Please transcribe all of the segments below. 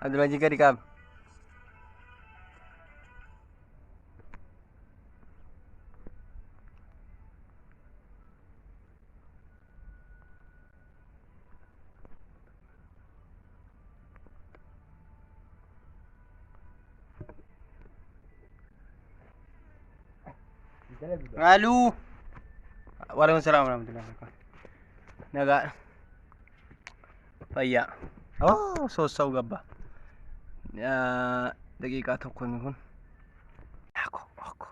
Abdulmajid gadi qaab. Aluu. Waalaikum salaam warahmatullahi wabarakatuh. Nagaa. Fayyaa. Oh, soosa'u gabba. Daqiiqaa tokko inni kun. Akkoo, akkoo.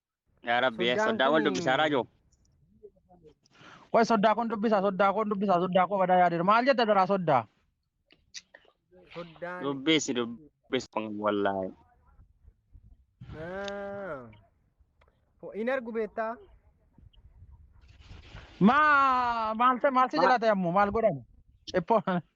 Yaa Rabbi, eh, Soddaan soddaa wal kuni- dubbisaa raajoo. Qoy soddaa kun dubbisaa soddaa kun dubbisaa soddaa koo badaa yaadeera. Maal jetta daraa soddaa? Soddaan. Dubbisi dubbisi wallaahi. Ah. Ho- Hin argu beektaa? Maa maal ta'e maal si Ma- jalaate ammoo maal godhama? Ciphoo.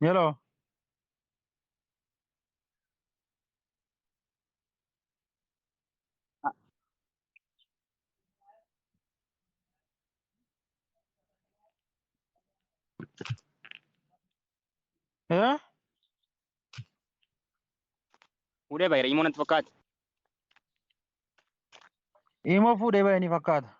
Hello. Eh? Fuudhee baay'ee immoo natti fakkaate. Imoo fuudhee baay'ee ni fakkaata.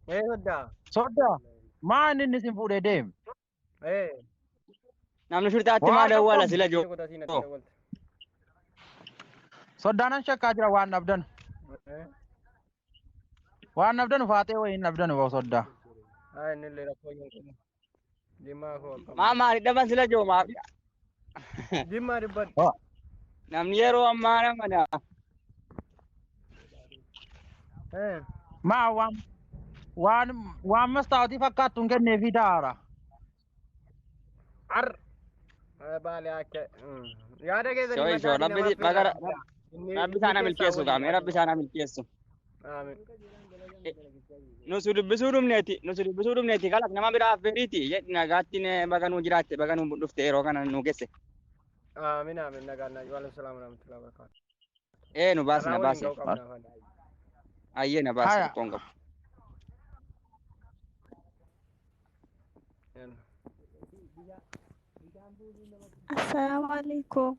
Ee soddaa. Sodda maan inni isin fuudhee deem. Ee. Namni shurxaatti Waan maal dawwala tokko- sila Ija joo. godhatii natti dawwalte. Soddaanan shakkaa jira waan dhabdan. Ee. Waan dhabdan faaxee wayii hin dhabdan boo soddaa. Haa inni illee rakkoo hin qabu. Dhimmaa koo akkam. Maa maali dhaban sila joo maaf Jimmaa dubbadhu. Waa. Namni yeroo ammaa nama dha. Eh, Maa waan waan waan mastaawtii fakkaattu hin kenneefii daara. Ar. Eh, Baale akka. mm. Yaada keessan Shoo ishoo himadhaa rabbi namaaf baga fidaa. Inni rabbi isaana milkeessu gaamee rabbi isaana milkeessu. Aamiin. Nu si dubbisuu dhumneeti, nu si dubbisuu dhumneeti kalaq nama biraa affeeriiti. Jedhi nagaatti ne- baga nuu jiraatte, baga nuu dhufte yeroo kana nuu gesse. Aamiin aamiin nagaan nagaan. Waalaikum salaam warahmatullahi wabarakatuh. Ee nu baasi na Carraa waliin baasi. ga'uu qabna afaan. Ayyee na baasi Haya. rakkoon qabu. Assalamu alaikum.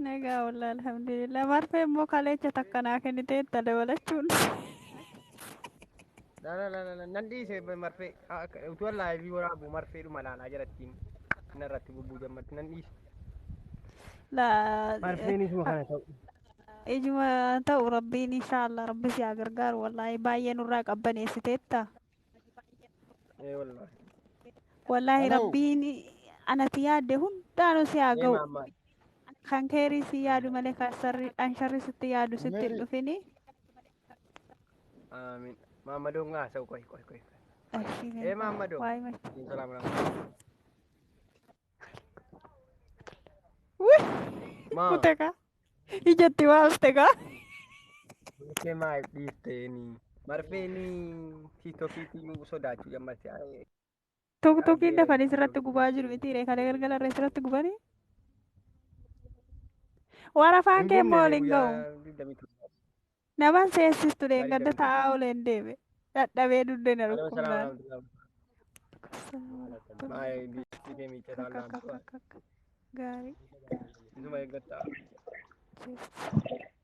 Nagaa wallah alhamdulillah maal fa'e immoo kaleecha takka naa kennitee itti dabalachuun. La la la la la nan dhiise marfee Ah, akka- utuu allaa ebii waraabu marfee dhuma laalaa jalattiin narratti bubbuu jammatti nan dhiise. Laa Marfeen isuma kana ta'u. ijuma ta'u rabbiin inshaallah rabbi si haa gargaaru wallaahi baay'ee nurraa qabbaneessiteetta. Ee wallaahi. Wallaahi Hello. rabbiin anati yaadde hundaanuu si haa Ee ga'u. maammaa. Kan keerii si yaadu malee kan sarri kan sharri sitti yaadu sitti hin Meerii. dhufini. Aamiin. Maammadoo ngaa haasa'u qoy qoy qoy. Ashii Ee maammadoo. Waayima. Salaam alaikum. Maa Kutekaa. Ijatti waafte kaa. marfee maaf dhiifteeni? Marfee ni tiiktokiitiin sodaachuu jammatti. Tokko tokkiin dafanii sirratti gubaa jiru miti ree kalee galgala irra sirratti gubanii. Warafaan kee immoo waliin ga'u. Naman si eessistu dheengadda taa'aa oleen deeme. Dhadhabee dugda na dhukkubnaan. Gaarii.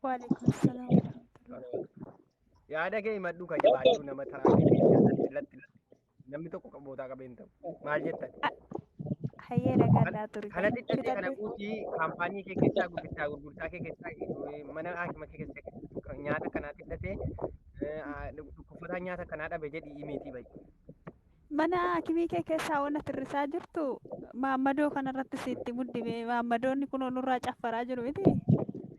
Waalaikum salaam. Yaada kee himadhu ka jabaadhu nama taraa Namni tokko kan bootaa qabee hin ta'u. Maal jettan? Hayyee dhagadhaa ture. Kana xiqqate kana Fudhadhu. guutii kaampaanii kee keessaa gurgurtaa gurgurtaa kee keessaa eh, mana haakima kee keessaa nyaata kanaa xiqqate dhukkubsataan nyaata kanaa dhabe jedhi imiitii bayi. Mana hakimii kee keessaa waan atirrisaa jirtu maammadoo kanarratti sitti muddime maammadoonni kun nurraa caffaraa jiru miti.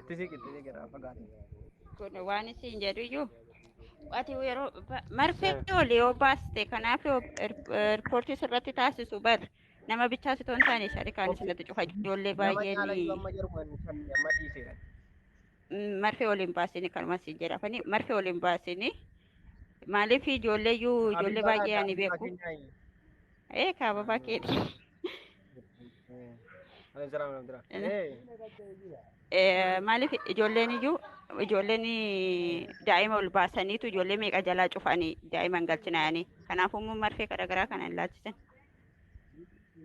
Itti siqillee garaa fagaate. kun waan isiin jedhu iyyuu ati yeroo ba- marfee oli yoo baaste kanaaf yoo er- erpoortii sirratti taasisu bar nama bichaa sitoo hin taane sharikaan isinatti cufa ijoollee Nama baay'een caala iyyuu amma jedhu kan kan amma dhiiseera. mm, marfee oli hin baasini kanuma siin jedha afani marfee oli hin baasini maaliif ijoollee iyyuu ijoollee baay'ee ani beeku Addunyaa Ee kaa babaa keeti. Ani jira ani jira. Ee. Maaliif ijoolleen iyyuu ijoolleen daa'ima ol baasaniitu ijoollee meeqa jalaa cufanii daa'ima hin galchinaayanii. Kanaafuu immoo marfee garaagaraa kana hin laachisan.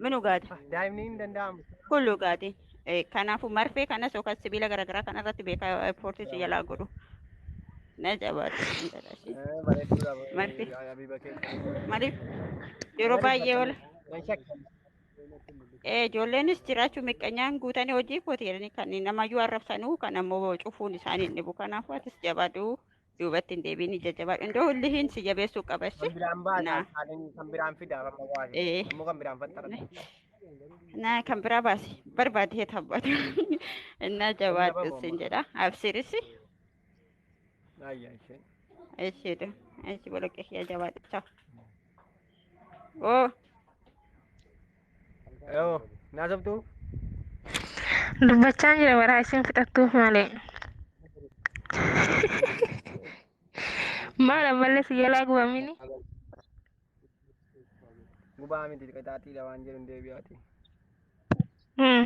Minu gaati. Daa'imni hin danda'amu. Kullu gaati. Kanaafuu marfee kanas yookaan sibiila garaagaraa kana irratti beekaa ispoortii si jalaa godhu. Na jabaadhu intala ishee. Eh, Bareedduudha Marti. eh, Habiba keenya. Maaliif yeroo Maaliif baay'ee akkana? oola. Nan shakka. Ee ijoolleenis jiraachuu miqqanyaan guutanii hojii kooti jedhanii kan namayyuu arrabsanuu kan ammoo cufuun isaanii hin dhibu. Kanaafuu atis jabaadhu duubatti hin deebiin ija jabaadhu. Indoo hullihiin si jabeessuu qaba Kan issi. biraan baasa. Naa. Haalin kan biraan fida. Amma waasi. Ee. Ammoo kan biraan faxxara. na kan biraa baasi barbaadee tabbata na jabaadhu sin jedha absiirisi Ayya ishee. Eshi tu. Eshi bolok eshi ya jawab. Ciao. Oh. Yoo naasoftu Dubbachaa jira baraa isin fixattuuf malee. Maal ammallee si jalaa gubamini? gubaa miti qixaaxiidha waan jedhu hin deebi'aati. Hmm.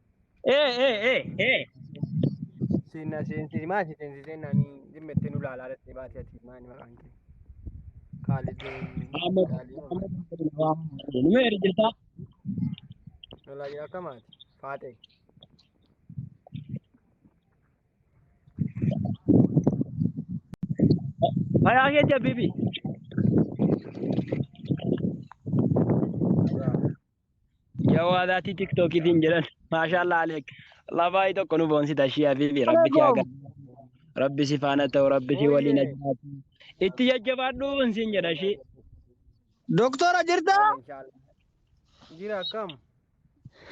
Ee ee ee ee. Seenna seensi maa si seensi seenna ni dhimma itti nu laalaa dhattee baatee ati maa ni maqaan kee. Kaalid Muhammad Kaalid Muhammad Abdulrahman. Nama ergita. lolaa jira akka maati faaxee. Fayaa kee jabbibi. Jawaa daatii tiktookiitiin jedhan. Maashaallah Aleek. Labaayii tokko nu boonsita ishii habiibi. Rabbi si haa gargaaru. Rabbi si faana ta'u. Rabbi si waliin haa jiraatu. Itti jajjabaadhu siin jedha ishii. Doktora jirtaa? Jira akkam?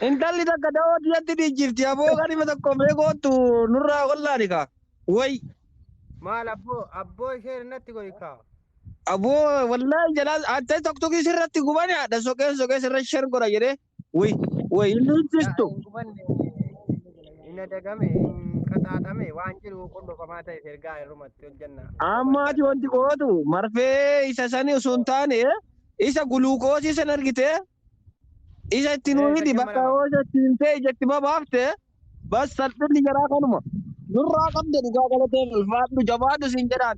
Intalli takka da'oo tiyatti dhiijjifti. Aboo kanima tokko mee gootu nurraa wallaani kaa. Way. Maal abboo abboo ishee natti godhi kaa. Aboo wallahi jalaa atta tokkoki sirratti gubani adha soqeen soqee sirra sher godha jedhee way way inni Yaa hiccistu. hin gubanne hin adagame hin qaxaaxame waan jiru qullufamaa ta'e ergaa irrumatti hojjenna. Amma ati wanti gootu marfee isa sani osoo hin taane isa guluukoosii san argite Ija itti nuu hidhi bakka yoo ija itti himtee ija itti babaafte bas salphinni jaraa kanuma. Nurraa qabda dhugaa galatee ulfaadhu jabaadhu siin jedhaan.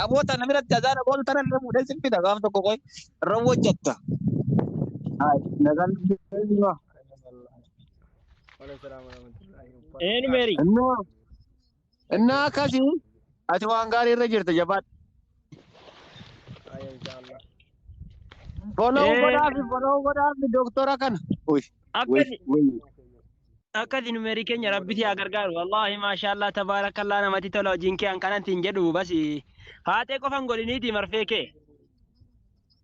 Aboo tana biratti azaana boolu tana illee fuudhee sin fida gaaf tokko qoy irra hojjatta. Nagaan deebi'aa. Waalaikumsalam warahmatullahi wabarakatuh. Eenyu meerii? Innoo Innaa akkasii ati waan gaarii irra jirta jabaadhu. Aya inshallah. Follow Eh. godhaafi follow godhaafi doktora kana. Uy, Akkasi uy, uy. akkasi numeerii keenya rabbi si haa gargaaru. Wallaahi maashaallah tabaarakallaa namatti tola hojiin kee an kanatti hin jedhu basi. Haatee qofan godhiniiti marfee kee.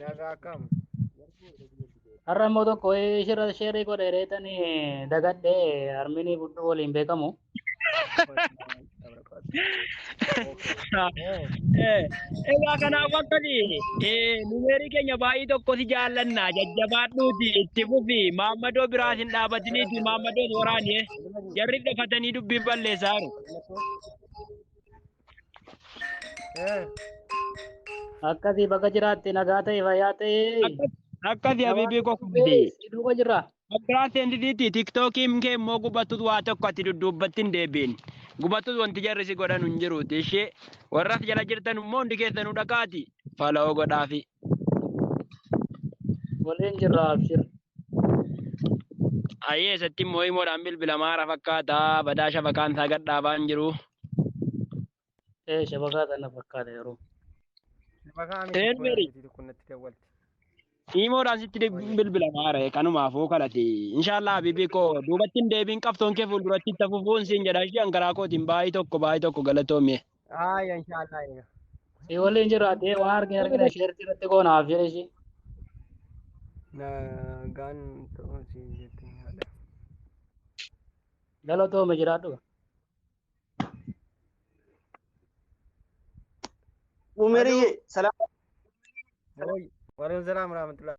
Nagaa akkam? Har'a immoo tokko shirra sheerii godhe reetanii dagadhee harminii budduu waliin beekamu. Egaa kanaaf akkati numeerii keenya baay'ee tokko si jaallanna jajjabaadhuuti itti fufi maammadoo biraas hin dhaabatiniiti maammadoos waraanee jarri dafatanii dubbiin balleessaa jiru. Eh, Akkasii bakka jiraatte nagaa ta'e fayyaa ta'e. Akkasi habiibii koo kubbee. Duuba jirra. Bakkaraan seentisiitti tiktookiin kee immoo gubattus waa tokko ati dudduubbatti hin deebiin. Gubattus wanti jarri si godhan hin jiruuti ishee. Warras jala jirtan immoo hundi keessanuu dhaqaati. Fala'oo godhaafi. Waliin jirra abshir. Ayyee isatti immoo himoodhaan bilbila maara fakkaata badaa shabakaan isaa gad dhaabaan jiru. Ee shabakaa kana fakkaata yeroo. Maqaa Ee, miti kun Mary. miti kun natti dawwalti. Himoodhaan sitti de- bilbila maara kanumaafuu kadhate. Inshaallah habibii koo duubatti hin deebiin qabsoon kee fuulduratti itti fufuun siin jedha ishee hangaraa kootiin baay'ee tokko baay'ee tokko galatoomee. Aaya inshaallah eega. Si waliin jiru addee waa argine argine sheertii irratti goona haaf jedhe ishii. Nagaan ta'uu si jettee haadha. Galatooma jiraadhu. Umeriyye salaam Waalaikum salaam warahmatullahi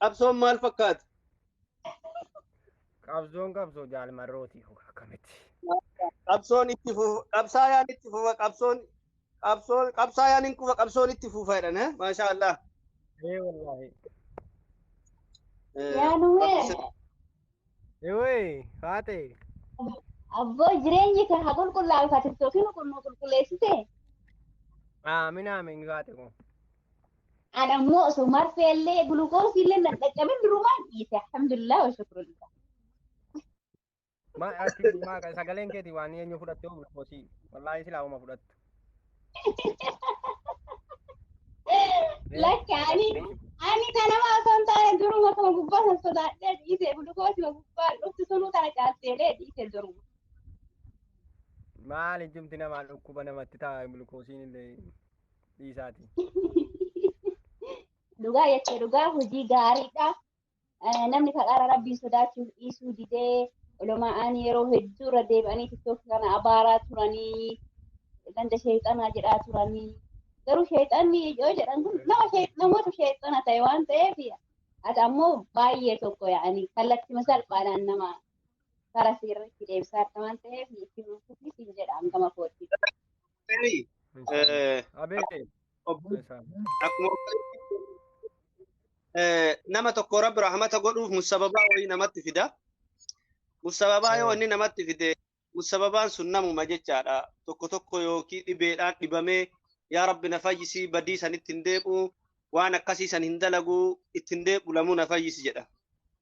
Qabsoon maal fakkaata? Qabsoon qabsoo jaalmarrooti akkamitti? Qabsoon itti fufa. Qabsaayaan itti fufa. Qabsoon qabsoon qabsaayaan hin kufa. Qabsoon itti fufa jedhan. eh? Maashaa Allah. Ee wallaahi. Eh, Yaa Nuwee. Ewoy faate. Abboo jireenyi kan haa qulqullaa'u ka tiktookiin kun nu qulqulleessite. Aamin aamin faate kun. An ammoo osoo marfee illee gulukoosii illee nan dhaqqabin durumaan dhiise. Alhamdulillah wa shukrulillah. Ma ati ma sagaleen keeti waan eenyu fudhatte gulukoosii. Wallaahi silaa uma fudhattu. Lakki ani ani kanama osoo hin taane duruma koo gubbaa san sodaadhee dhiise gulukoosuma gubbaa dhuftu sunuu tana caalteelee dhiise duruma. Maal ijjumti namaa dhukkuba namatti ta'a gulukoosiin illee dhiisaati. Dhugaa jettee dhugaa hojii gaariidha. Eh, Namni kadhaara rabbiin sodaachuuf dhiisuu didee olomaa'aan yeroo hedduu irra deebi'anii tiktok kana abaaraa turanii ganda sheexanaa jedhaa turanii garuu sheexanni yoo jedhan kun nama shee- namoota sheexana ta'e waan ta'eef ati ammoo baay'ee tokko yaa'ani kallattima salphaadhaan nama karaa seerratti deebisaa akka waan ta'eef itti fufuufis hin jedhaan gama kootti. Tarii, Risaala. eh, Abee. obbo- Risaala. akkuma eh, nama tokko rabbi rahmata godhuuf musababaa wayii namatti fida. Musababaa yoo Eh. inni namatti fide musababaan sun namuma jechaadha. Tokko tokko yookiin dhibeedhaan dhibamee yaa rabbi na fayyisii badii sanitti hin deebi'u waan akkasii san hin dalagu itti hin deebi'u lamuu na fayyisi jedha.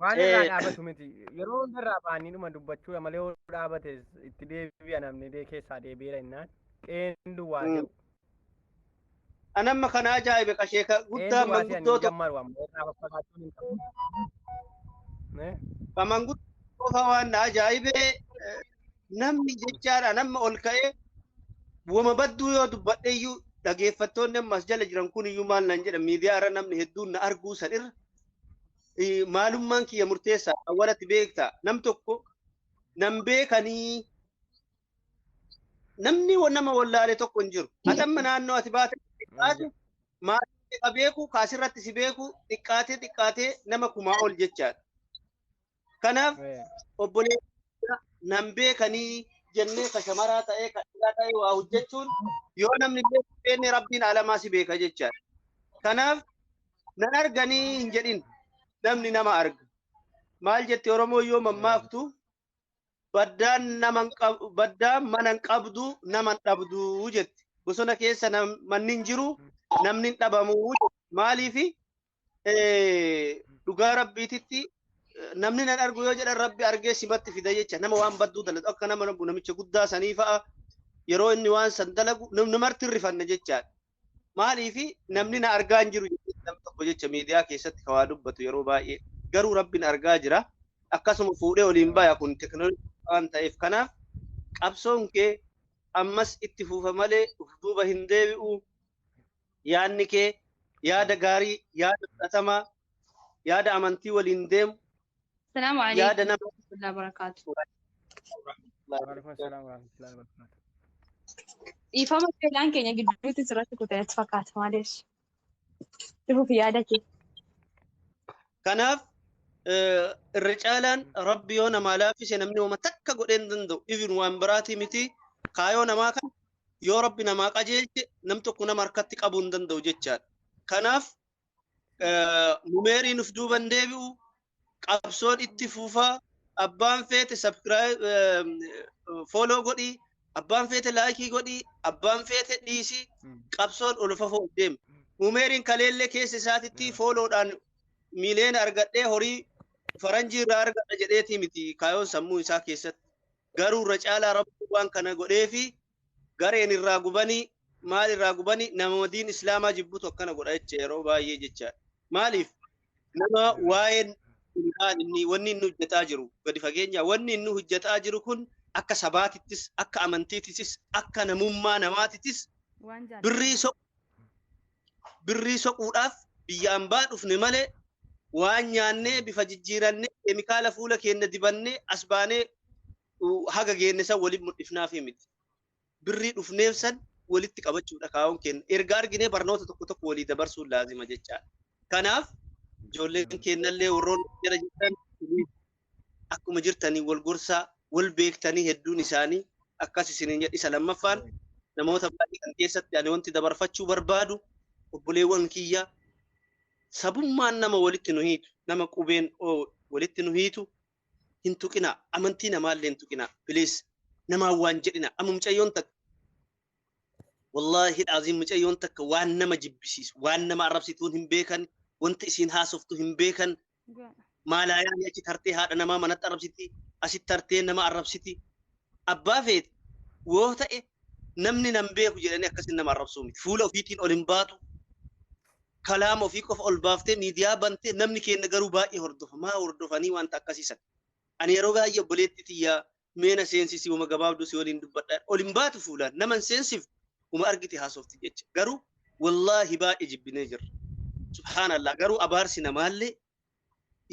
Waan irraa Eh. dhaabatu miti. Yeroo hundarraa baanii dhuma dubbachuudha malee yoo dhaabates itti deebi'a namni dee keessaa deebi'eera innaan qeen duwwaa Mm. se'u. An amma kana ajaa'ibe qashee ka Qeen guddaa duwwaa se'anii manguddoo tokko jammaru amma irraa faffagaachuun hin qabu. Eh? ka manguddoo qofa waan na ajaa'ibe eh, namni jechaadha namni ol ka'ee wama badduu yoo dubbadhe iyyuu dhageeffattoonni amma as jala jiran kun iyyuu maal naan jedha miidiyaa irra namni hedduun na arguu san irra maalummaan kiyya murteessaa awwalatti beekta nam tokko nam beekanii namni nama wallaale tokko hin jiru. Atamma naannoo ati baate xiqqaate maatii ka beeku kaasirratti si beeku xiqqaatee xiqqaatee nama kumaa ol jechaadha. Kanaaf obboleessa nan beekanii jennee ka shamaraa ta'ee ka dhiiraa ta'ee waa hojjechuun yoo namni illee hin beekne rabbiin alamaa si beeka jechaadha. Kanaaf nan arganii hin jedhin namni nama arga. Maal jetti Oromoo yoo mammaaktu baddaan nama hin qab- baddaan mana hin qabdu nama hin dhabdu jetti. Bosona keessa nam- manni hin jiru namni hin dhabamu jetti. Maaliifi dhugaa rabbiititti namni nan argu yoo jedhan rabbi argee simatti fida jecha nama waan badduu dalatu akka nama namicha guddaa sanii fa'a yeroo inni waan san dalagu namartti hin rifanne jechaadha. Maaliif namni na argaa hin jiru namni tokko jecha miidiyaa keessatti kawaa dubbatu yeroo baay'ee garuu rabbiin argaa jira. Akkasuma fuudhee oliin baya kun teknooloojii waan ta'eef kanaaf qabsoon kee ammas itti fufa malee duuba hin deebi'u. Yaadni kee yaada gaarii, yaada fudhatamaa, yaada amantii waliin deemu, Assalaamu yaada alaikum nama warahmatullahi wabarakaatu. Waalaikum assalam warahmatullahi wabarakatuh. Dhiifama fedhaan keenya gidduutti sirratti kutee natti fakkaata maaliif? Dhufuuf yaada kee. Kanaaf eh, irra caalaan rabbi yoo namaa laaffise namni hooma takka godhee hin danda'u. Even waan biraatii miti kaayoo namaa kan yoo rabbi namaa qajeelche nam tokko nama harkatti qabuu hin danda'u jechaadha. Kanaaf numeerii nuf duuban deebi'u qabsoon itti fufaa abbaan feete sabskiraayib fooloo godhii abbaan feete laayikii godhii abbaan feete dhiisii qabsoon ol fafoo deema. Numeeriin kaleellee keessa isaatitti fooloodhaan miiliyoona argadhee horii faranjii irraa argadha jedheetii miti kaayoon sammuu isaa keessatti. Garuu irra caalaa Rabbiin waan kana godheefi gareen irraa gubanii maal irraa gubanii nama diin Islaamaa jibbutu akkana godha jecha yeroo baay'ee jecha. Maaliif nama waa'een maal inni wanni inni hojjetaa jiru gadi fageenya wanni inni hojjetaa jiru kun akka sabaatittis akka amantiittis akka namummaa namaatittis Waan birrii jaallatamu. so birrii soquudhaaf biyya ambaa dhufne malee waan nyaannee bifa jijjiirannee keemikaala fuula keenya dibannee as baanee haga geenne san waliin mul'ifnaafii miti. Birrii dhufneef san walitti qabachuudha kaa'uun keenya. Erga arginee barnoota tokko tokko walii dabarsuun laazima jechaadha. Kanaaf ijoolleen keenyallee warroonni jala jirtan akkuma jirtanii wal gorsaa wal beektanii hedduun isaanii akkas isiniin jedha isa lammaffaan namoota baay'ee kan keessatti ani wanti dabarfachuu barbaadu obboleewwan kiyya sabummaan nama walitti nu hiitu nama qubeen oo walitti nu hiitu hin tuqinaa amantii namaallee hin tuqinaa biliis namaan waan jedhina amma mucayyoon takka wallaahi dhaaziin mucayyoon takka waan nama jibbisiisu waan nama arrabsituun hin beekan wanti isiin haasoftu hin beekan Maalaayaan achi tartee haadha namaa manatti arrabsiti, asitti tartee nama arrabsiti. Abbaa feete yoo ta'e namni nan beeku jedhanii akkasiin nama arrabsuu miti. Fuula ofiitiin ol hin baatu. Kalaama ofii qofa ol baaftee miidiyaa bantee namni keenya garuu baay'ee hordofa. Maa hordofanii wanta akkasiisan. Ani yeroo baay'ee obboleetti tiyyaa mee na seensisi uma gabaabduu si waliin dubbadha ol hin baatu fuulaan nama hin seensiftu uma argite haasofti jecha garuu wallaahi baay'ee jibbinee jirra subhaanallah garuu abaarsi namaallee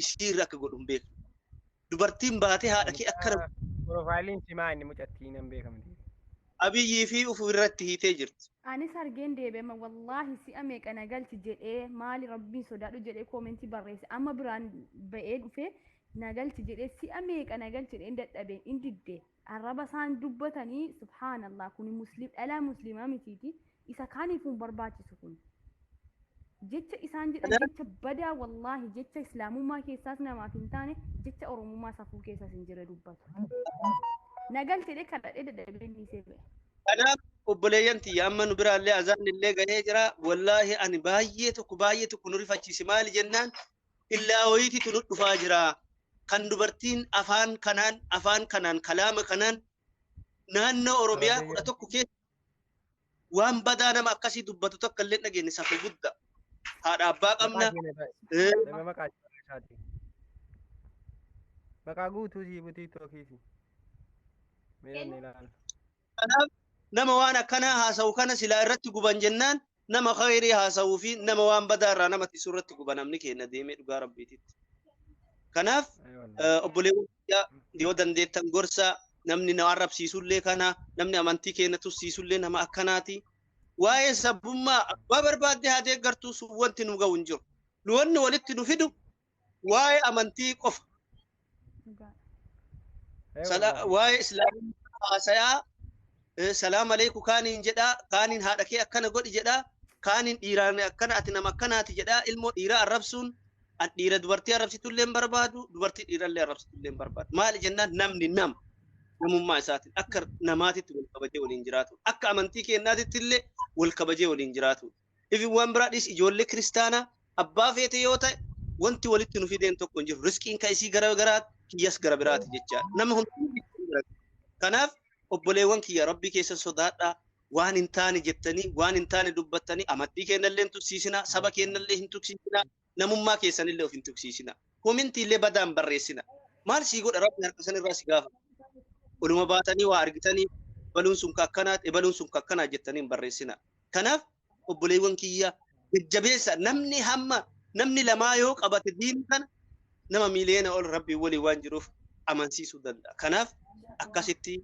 isii irra akka godhu hin beeknu dubartiin baatee haadha kee akkana Piroofaayiliin simaa inni mucattii nan beekamti. abiyyii fi ufu irratti hiitee jirti Anis argeen deebi'ama wallaahi si'a meeqa na galchi jedhee maali rabbiin sodaadhu jedhee koomentii barreesse amma biraan ba'ee dhufee na galchi jedhee si'a meeqa na galchi jedheen dadhabe in didde arraba isaan dubbatanii subhaanallah kuni muslim dhalaa muslimaa mitiiti isa kaaniifuu hin barbaachisu kun jecha isaan jedhan Kanaaf jecha badaa wallaahi jecha islaamummaa keessaas namaaf hin taane jecha oromummaa safuu keessaas hin jirre dubbatu na galchi jedhee kadhadhee dadhabee inni isee ba'e kanaaf obboleeyyan tiyya amma nu biraallee azaan illee gahee jira wallaahi ani baay'ee tokko baay'ee tokko nu rifachiise maali jennaan Illaa wayititu nu dhufaa jira. Kan dubartiin afaan kanaan afaan kanaan kalaama kanaan naannoo Oromiyaa kudha tokko keessa waan badaa nama akkasii dubbatu takka illee dhageenye safu gudda. Haadha abbaa qabna. Nama maqaa isaati. Maqaa guutuu sii butii tookiisi. Mee inni ilaala. Kanaaf nama waan akkanaa haasa'u kana silaa irratti guban jennaan nama khayrii haasa'uu fi nama waan badaa irraa nama tisu irratti guba namni keenya deemee dhugaa rabbiititti. Kanaaf obboleewwan biyyaa yoo dandeettan gorsa namni na arrabsiisullee kana namni amantii keenya tussiisullee nama akkanaati. Waa'ee sabummaa abbaa barbaadde haa deeggartu sun wanti nu ga'u hin jiru. Nu wanni walitti nu fidu waa'ee amantii qofa Ee sala- wallaahi. waa'ee islaamummaa haasayaa eh, salaam aleeku kaaniin jedhaa kaaniin haadha kee akkana godhi jedhaa kaaniin dhiiraan akkana ati nama akkanaati jedhaa ilmoo dhiiraa arrabsuun an dhiira dubartii arrabsitullee hin barbaadu dubartii dhiirallee arrabsitullee hin barbaadu maali jennaan namni nama namummaa isaatiin akka namaatitti wal kabajee waliin jiraatu akka amantii keenyaatitti illee wal kabajee waliin jiraatu Even waan biraa dhiisi ijoollee kiristaanaa abbaa feete yoo ta'e wanti walitti nu fideen tokko hin jiru. Risqiin kan isii gara garaati, kiyyas gara biraati jechaa. Nama hundumtuu Kanaaf obboleewwan kiyya rabbii keessan sodaadhaa waan hin taane jettanii waan hin taane dubbattanii amantii keennallee hin tuksiisinaa saba keennallee hin tuksiisinaa. namummaa keessanillee of hin tuqsiisina. Komintiillee badaa hin barreessina. Maal sii godha rabbi harka san irraa si gaafata. Oluma baatanii waa argitanii ebaluun sun ka akkanaati ebaluun sun ka akkanaa jettanii hin barreessina. Kanaaf obboleewwan kiyya jajjabeessa namni hamma namni lamaa yoo qabate diin kana nama miiliyoona ol rabbiin waliin waan jiruuf amansiisuu danda'a. Kanaaf akkasitti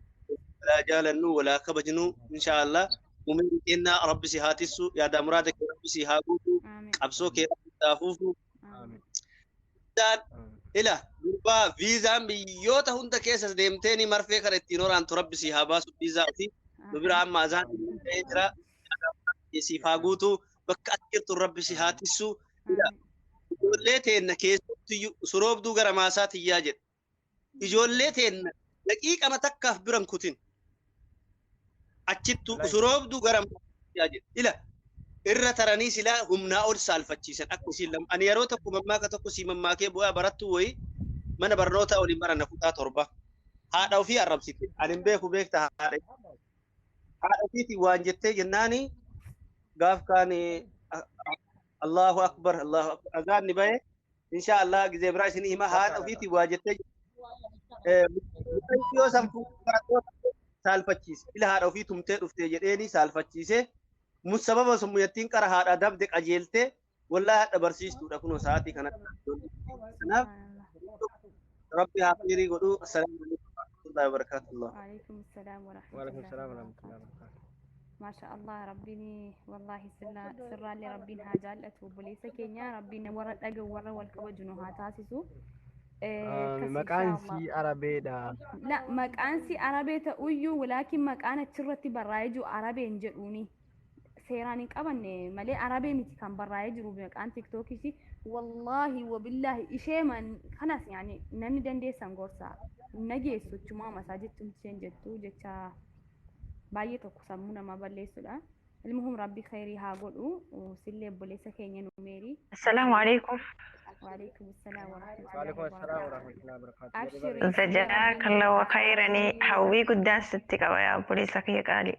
walaa jaalannu walaa kabajnu inshaallah umrii kennaa rabbi si haa tissu yaadaa muraada kee rabbi si haa guutu Amiin. qabsoo kee rabbi si haa fuufu. Amiin. Viizaan ila gurbaa viizaan biyyoota hunda keessas deemtee ni marfee kana ittiin horaantu rabbi si haa baasu viizaa ofii. nu bira amma azaan ta'ee jira. Siif haa guutu. bakka ati jirtu rabbi si haa tissuu ijoollee teenna keessattiyyuu suroobduu gara maasaa tiyyaa jedhe ijoollee teenna daqiiqama takkaaf biran kutin achittu Wallahi. suroobduu gara maasaa tiyyaa jedhe ila irra taranii silaa humnaa ol saalfachiisan akka isiin lama ani yeroo tokko mammaaka tokko sii mammaakee bu'aa barattuu wayii mana barnootaa waliin barana kutaa torba haadha ofii arrabsite ani hin beeku beekta haadha haadha ofiitiin waan jettee jennaani gaaf kaan Allahu akbar Allahu akbar azaan ni bahe insha Allah gizee biraa isin hima haadha ofiitiin waa jettee mucayyoo san saalfachiise ila haadha ofii tumtee dhuftee jedheeni saalfachiise musababa sun muyattiin qara haadha dabde qajeelte Wallahi hadha barsiistuudha kunoo sa'aatii kanatti ijoollee kanaaf Subhanallah. rabbi haa khayrii godhu. Assalaamu alaikum warahmatullahi wabarakatuh. Waalaikum salaam Waalaikum warahmatullahi salaam warahmatullahi wabarakatuh. wabarakatuh. Maasha Allah rabbiin wallahi sirraa sirraallee rabbiin haa jaallatu obboleessa keenya rabbiin warra dhaga warra wal kabaju nu haa taasisu. Eh, Ah, akkas Maqaan insha Allah. sii Arabeedha. La maqaan si arabee ta'uyyuu walaakin maqaan achirratti barraa'ee jiru arabeen jedhuuni. seeraan hin qabanne malee arabee miti kan barraa'ee jiru maqaan tiktookis wallaahi wabillaahi ishee man kanas yaani namni dandeessan gorsa nageessu chumaa masaa jettuun isheen jettu jecha baay'ee tokko sammuu namaa balleessudha. Ilmuhum rabbi khayrii haa godhu sillee obboleessa keenya nu meerii. Assalaamu alaikum. Waalaikum salaam warahmatullahi Waalaikum assalam wabarakatuh. warahmatullahi wabarakatuh. Abshiri. Jazakallahu khayranii hawwii guddaan sitti qaba yaa obboleessa kiyya qaalii.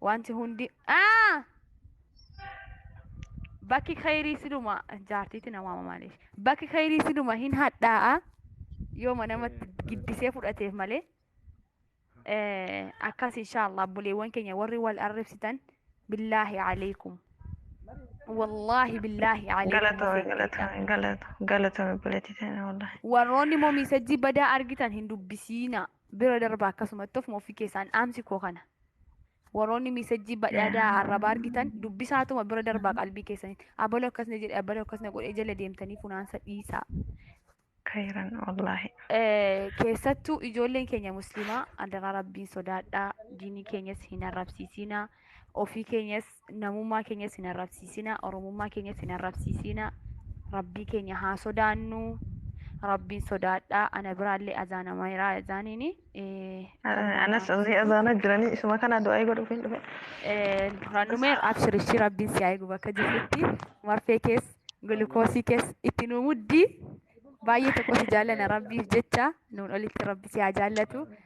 Wanti hundi aa bakki khayrii siluma jaartiitti na waama maaliif bakki khayrii siluma hin hadhaa'a yooma namatti giddisee fudhateef malee Eh, akkas inshaallah buleewwan keenya warri wal arrabsitan billaahi alaikum wallaahi billaahi alaikum Galatoomi galatoomi galatoomi galatoomi buleetii ta'e wallahi. warroonni moo miisajjii badaa argitan hin dubbisiina Bira darba akkasumatti ofuma ofii keessaan dhaamsi koo kana. Warroonni miisajjii badhaadaa arrabaa argitan dubbisaatuma bira darbaa qalbii keessanitti. Abaloo akkasna jedhe abaloo akkasna godhe jala deemtanii funaansa dhiisaa. Kayran wallahi. Eh, keessattuu ijoolleen keenya musliimaa adaraa rabbiin sodaadhaa diinii keenyas hin arrabsiisinaa ofii keenyas namummaa keenyas hin arrabsiisina oromummaa keenyas hin arrabsiisina rabbii keenya haa sodaannu rabbiin sodaadhaa ana biraallee azaanama iraa azaaniini Anas azii azaana jiranii isuma kana du'aa godhuuf hin dhufe. Rannumeer abshirichi rabbiin si haa eegu bakka jirtutti marfee kees gulukoosii kees itti nuu muddi baay'ee tokko si jaallana rabbiif jecha nuun olitti rabbi si haa jaallatu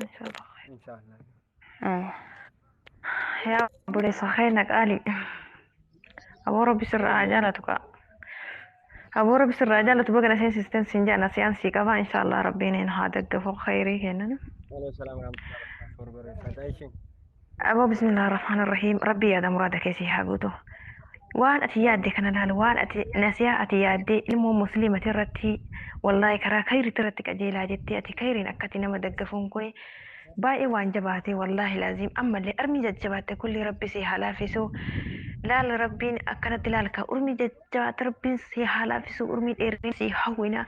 Inshallah. Inshallah. Eh, Yaa obboleessa keenya qaalii. Aboo rabbi sirraa haa jaalatu kaa. Aboo rabbi sirraa haa jaalatu baga na seensisten siin jedha nasiyaan sii qabaa inshallah rabbiin hin haa daggafu khayrii kennan. Waalaikum salaam warahmatullahi wabarakatuh. Barbareeffadha ishiin. Aboo bismillah rahmaan irrahiim rabbii yaada muraada kee sii haa guutu waan ati yaadde kana laal waan ati nasiyaa ati yaadde ilmoo musliimati irratti wallaahi karaa kayritti irratti qajeelaa jettee ati kayriin akkati nama daggafuun kuni baay'ee waan jabaate wallaahi laaziim ammallee armii jajjabaatte kulli rabbi sii haa laafisu laal rabbiin akkanatti laal ka urmii jabaadha rabbiin si haa laafisu urmii dheerina si hawwina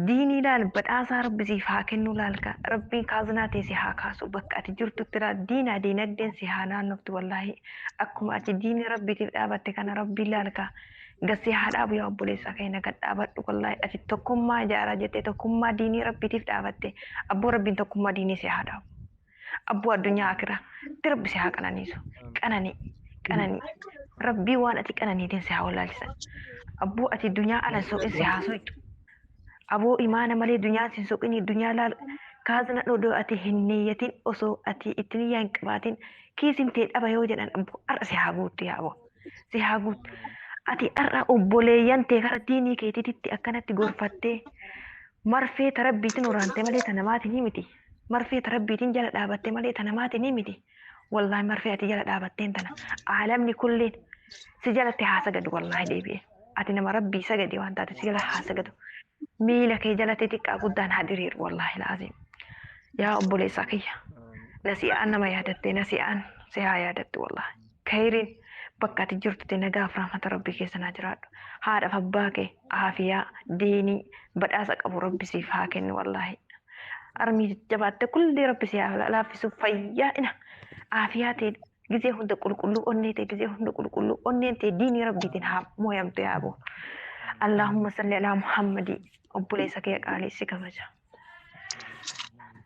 diinii laal badhaasaa rabbi siif haa kennu laalka rabbiin kaaznaa tee si haa kaasu bakka ati jirtutti laa diinaa diinagdeen si haa naannoftu wallaahi akkuma ati diinii rabbiitiif dhaabatte kana rabbiin laalka gad si haa dhaabu yaa obboleessaa keenya gad dhaabadhu wallaahi ati tokkummaa ijaaraa jettee tokkummaa diinii rabbiitiif dhaabatte abboo rabbiin tokkummaa diinii si haa dhaabu. abboo addunyaa akira itti rabbi si haa qananiisu qananii qananii rabbii waan ati qananiitiin si haa wallaalchisan abboo ati dunyaa ala hin soqin si haa soqxu aboo imaana malee dunyaan sin soqinii dunyaa laal kaazna dhodoo ati hin niyyatin osoo ati itti niyyaa hin qabaatin kiisin tee dhaba yoo jedhan abboo har'a si haa guuttu yaa aboo si haa guuttu ati har'a obboleeyyan tee gara diinii keetiititti akkanatti gorfattee marfee ta rabbiitin waraante malee ta namaatiin himiti Marfee ta rabbiitin jala dhaabatte malee ta namaatinii miti wallahi marfee ati jala dhaabatteen tana aalamni kulliin si jalatti haa sagadu wallahi deebi'e ati nama rabbii sagade waan taate si jala haa sagadu miila kee jalatti xiqqaa guddaan haa diriiru wallahi laaziim yaa obboleessaa kiyya nasi'aan nama yaadatte nasi'aan si haa yaadattu wallahi Kayriin bakka ati jirtutti nagaa fi rahmata Rabbii keessa naa jiraadhu. Haadha fi abbaa kee aafiyaa, diinii, badhaasa qabu Rabbi siif haa kennu wallaahi. Armii jajjabaatte kulli Rabbi si haa laaffisu fayyaadhina aafiyaa tee gizee hunda qulqulluu onnee tee gizee hunda qulqulluu onneen tee diinii Rabbiitiin haa mooyamtu yaa aboo. Allaahumma salli alaa Muhammadii obboleessa kee qaalii si kabaja.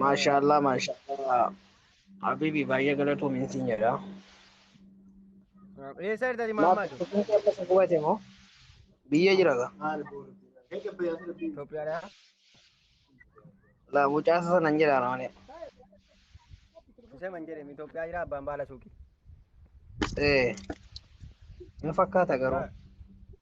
Maashaallah maashaallah habibi baay'ee galatoomi siin jedha. Eessa jirta ati Maaf Mahammad? kun keessa si gubate moo? Biyya jira ga. Itoophiyaadha. La mucaasa sanan jedha malee. Isa man jedhame Itoophiyaa jira abbaan baala suuqii. Eh. Hin fakkaata garuu.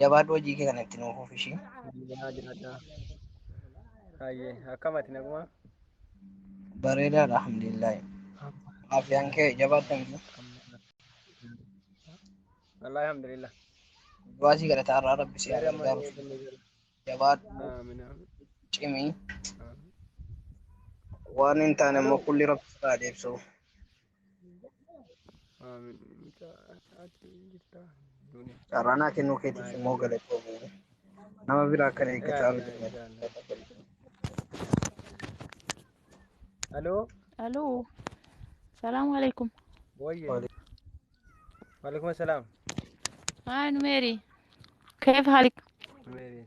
Jabaadhu hojii kee kana itti nuuf fufi ishii. Yaa jiraadhaa. Hayyee akkam ati nagumaa? Bareedaadha alhamdulillahi. Afiyaan kee jabaadha miti. Wallaahi alhamdulillah. Du'aa sii kadhataa irraa rabbi si haa Yeroo amma gargaaru. inni jira. Jabaadhu Aamin aamin. cimii. aamin. Waan hin taane immoo kulli rabbi sirraa deebsu. Carraanaa kennuu keetiif immoo galatoomi. Nama biraa kan eeggataa bitu. Aloo Aloo. Salaamu alaikum. wayye. Waalaikum salaam. Haa numeeri. Keef haalik. Meeri.